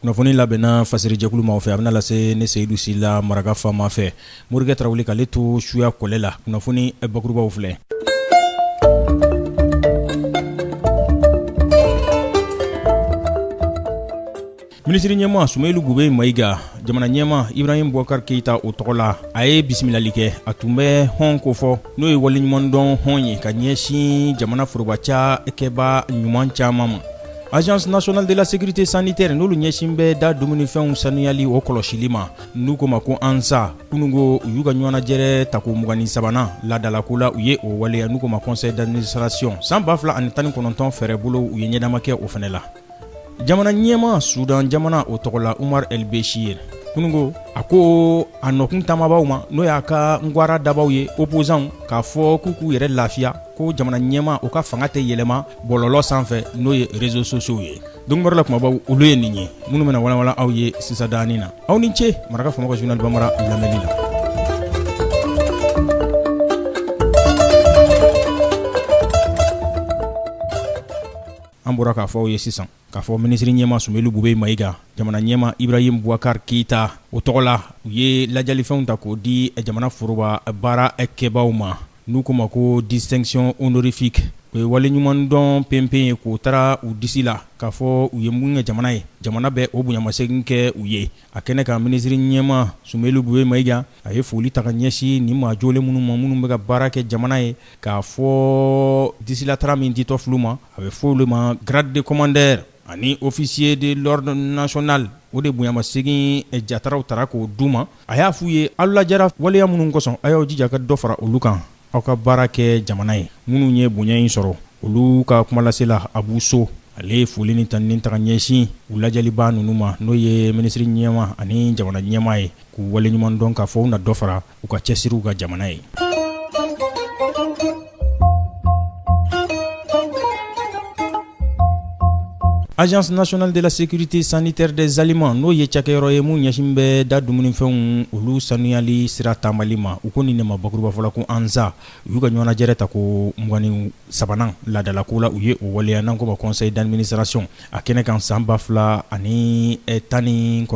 kunnafoni labɛnna fasirijɛkulu maaw fɛ a bɛna lase ne seyidu sila maraka fama fɛ morikɛ tarawele k'ale to suya kɔlɛ la kunnafoni bakurubaw filɛ minisiri ɲɛma sumeyilu bube mayiga jamana ɲɛma ibrahim bubakari keyita o tɔgɔ la a ye bisimilali kɛ a tun bɛ hɔn ko fɔ n'o ye waleɲumandɔn hɔn ye ka ɲɛsin jamana foroba cakɛba ɲuman caman ma agence nationale de la sécurité sanitaire n'olu ɲɛsin bɛ da dumunifɛnw sanuyali o kɔlɔsili ma n'u k'o ma ko ansa kununko u y'u ka ɲɔgɔnnajɛrɛ tako mugan ni sabanan ladalako la u ye o waleya n'u k'o ma conseil d'administration san ba fila ani tan ni kɔnɔntɔn fɛɛrɛ bolow u ye ɲɛdama kɛ o fɛnɛ la jamana ɲɛma sudan jamana o tɔgɔ la umaru ɛli besiri kununko a ko a nɔkun taamabaw ma n'o y'a ka ngwara dabaw ye opposants k'a fɔ k'u k'u yɛrɛ lafiya ko jamana ɲɛma o ka fanga tɛ yɛlɛma bɔlɔlɔ sanfɛ n'o ye réseaux sociaux ye donbara la kumabaw olu ye nin ye minnu bɛna walawalan aw ye sisan danin na aw ni ce maraka fama ka journal banbara lamɛnni la an bɔra k'a fɔ aw ye sisan K'a fɔ minisiri ɲɛma Sumeyili Bube Mayiga, jamana ɲɛma Ibrahim Boubacar Keita o tɔgɔ la, u ye lajalifɛnw ta k'o di jamana foroba baara kɛbaaw ma, n'u k'o ma ko distinction honorifique o ye waleɲumandɔn penpen ye k'o tara u disi la, k'a fɔ u ye mun kɛ jamana ye, jamana bɛ o bonyamasegin kɛ u ye. A kɛnɛ kan, minisiri ɲɛma Sumeyili Bube Mayiga, a ye foli ta ka ɲɛsin nin maa jolen minnu ma, minnu bɛ ka baara kɛ jamana ye, k'a fɔ disilatara min ditɔ fil'u ma. a bɛ fɔ olu ma grade de commandeur ani officier de l'ordre national o de bonyamasegin jataraw tara k'o d'u ma a y'a f'u ye aw lajara waleya minnu kɔsɔn aw y'aw jija ka dɔ fara olu kan aw ka baara kɛ jamana ye minnu ye bonya in sɔrɔ olu ka kumalasela abu so ale ye foli ni tanuni ta ka ɲɛsin u lajaliba ninnu ma n'o ye minisiri ɲɛma ani jamana ɲɛmaa ye k'u waleɲuman dɔn k'a fɔ u na dɔ fara u ka cɛsiriw kan jamana ye agence nationale de la sécurité sanitaire des aliments n'o ye cakɛyɔrɔ ye mun ɲɛsin bɛ da dumunifɛnw olu sanuyali sira taamali ma u ko nin ne ma bakuruba fɔla ko ansa u y'u ka ɲɔgɔnajɛrɛ tako mugan ni sabanan ladalako la u ye o waleya n'an k'o ma conseil d'administration a kɛnɛ kan san 2019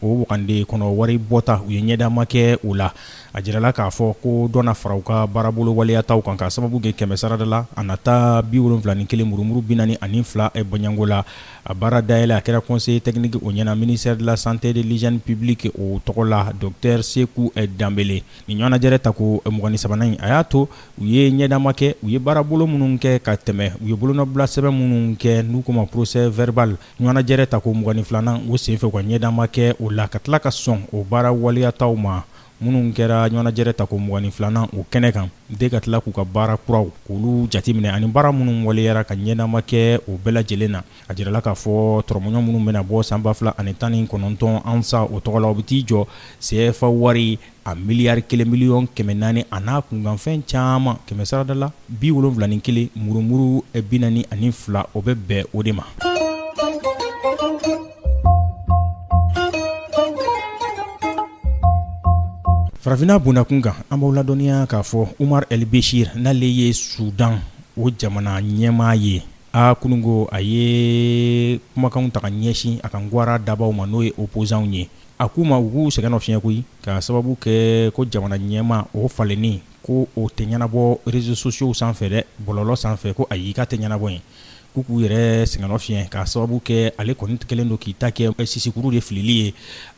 o wagande kɔnɔ wari bɔta u ye ɲɛdama kɛ o la a jirala k'a fɔ ko dɔ na fara u ka baarabolo waleyataw kan ka sababu kɛ kɛmɛ sarada la a nata 71 murumuru 42 bɔɲanko la a baara dayɛlɛ a kɛra conseiller technique o ɲɛna ministère de la santé et de l'hygiène publique o tɔgɔ la docteur Seku Danbele nin ɲɔgɔnajɛrɛ tako 23nan in a y'a to u ye ɲɛdama kɛ u ye baarabolo minnu kɛ ka tɛmɛ u ye bolonɔbila sɛbɛn minnu kɛ n'u ko ma procès verbal ɲɔgɔnnajɛrɛ ta ko mugan ni filanan o senfɛ u ka ɲɛdama kɛ o la ka tila ka sɔn o baara waleyataw ma minnu kɛra ɲɔgɔnnajɛrɛ ta ko mugan ni filanan o kɛnɛ kan de ka tila k'u ka baara kuraw olu jateminɛ ani baara minnu waleyara ka ɲɛdama kɛ o bɛɛ lajɛlen na a jirala k'a fɔ tɔrɔmɔɲɔ minnu bɛna bɔ san ba fila ani tan ni kɔnɔntɔn ANSA o tɔgɔ la o bɛ t'i jɔ sefa wari a miliyari kelen miliyɔn kɛmɛ naani a n'a kunkanfɛn caman kɛmɛ sarada la bi wolonwula ni kelen murumuru bi naani ani fila o bɛ bɛn o de ma farafinna bonda kun kan an b'aw ladɔnniya k'a fɔ umar el beshir n'ale ye sudan o jamana ɲɛmaa ye a kununko a ye kumakanw ta ka ɲɛsin a ka ngwara dabaw ma n'o ye opozanw ye A k'u ma u k'u sɛgɛnnafiɲɛ koyi ka sababu kɛ ko jamana ɲɛmaa o falenni ko o tɛ ɲɛnabɔ réseaux sociaux sanfɛ dɛ bɔlɔlɔ sanfɛ ko ayi k'a tɛ ɲɛnabɔ yen k'u k'u yɛrɛ sɛgɛnnafiɲɛ ka sababu kɛ ale kɔni kɛlen don k'i ta kɛ sisikuru de filili ye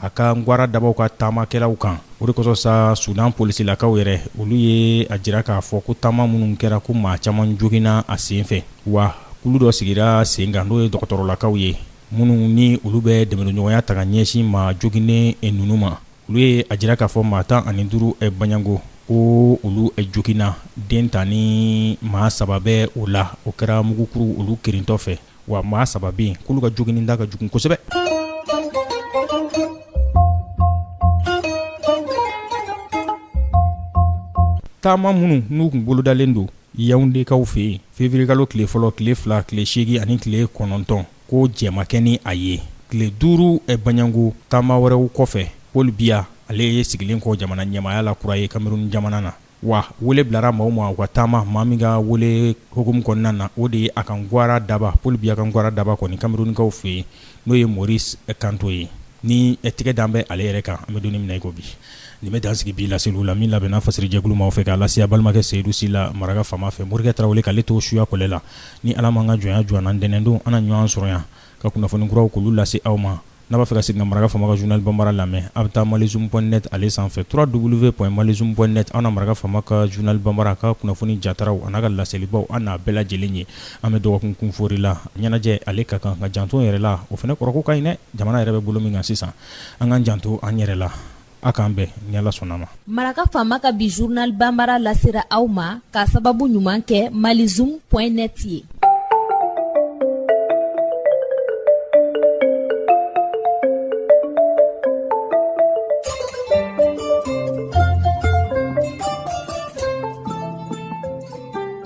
a ka ngwara dabaw ka taamakɛlaw kan o de kosɔn sa sudan polisilakaw yɛrɛ olu ye a jira k'a fɔ ko taama minnu kɛra ko maa caman joginna a senfɛ wa kulu dɔ sigira sen kan n'o ye dɔgɔtɔrɔlakaw ye minnu ni olu bɛ dɛmɛɲɔgɔnya ta ka ɲɛsin maa joginnen ninnu ma olu ye a jira k'a fɔ maa tan ani duuru baɲango ko olu joginna den tan ni maa saba bɛ o la o kɛra mugukuru olu kirintɔ fɛ wa maa saba bɛ yen k'olu ka joginni da ka jugu kosɛbɛ taama minnu n'u kun bolodalen don yawundekaw fɛ yen février kalo tile fɔlɔ tile fila tile segin ani tile kɔnɔntɔn ko jɛmakɛ ni a ye tile duuru baɲango taama wɛrɛw kɔfɛ paul biya ale ye sigilen kɔ jamana ɲɛmaaya la kura ye kameruni jamana na wa wele bilara maaw ma u ka taama maa min ka wele hukumu kɔnɔna na o de ye a ka ngwara daba paul biya ka ngwara daba kɔni kamerunikaw fɛ yen n'o ye maurice kamto ye ni tigɛ dan bɛ ale yɛrɛ kan an bɛ donni minɛ i ko bi nin bɛ dan sigi bi laseliw la min labɛnna fasiri jɛkulu maaw fɛ k'a lase a balimakɛ seyidu sila maraka faama fɛ morikɛ tarawele k'ale to suyakɔlɛ la ni ala m'an ka jɔnya jɔ an na ntɛnɛndon an na ɲɔgɔn sɔrɔ yan ka kunnafoni kuraw k'olu lase aw ma n'a b'a fɛ ka segin ka maraka faama ka zurunali bambara lamɛn a bɛ taa malizoom.net ale sanfɛ www.malizoom.net an na maraka faama ka zurunali bambara ka kunnafoni jataraw a n'a ka laselibaw an n'a bɛɛ lajɛlen ye An bɛ dɔgɔkun kun foori la ɲɛnajɛ ale ka kan ka janto yɛrɛ la o fana kɔrɔko ka ɲi dɛ jamana yɛrɛ bɛ bolo min kan sisan an k'an janto an yɛrɛ la aw k'an bɛn ni Ala sɔnna ma maraka faama ka bi journal bambara lasera aw ma ka sababu ɲuman kɛ Mali Zoom point net ye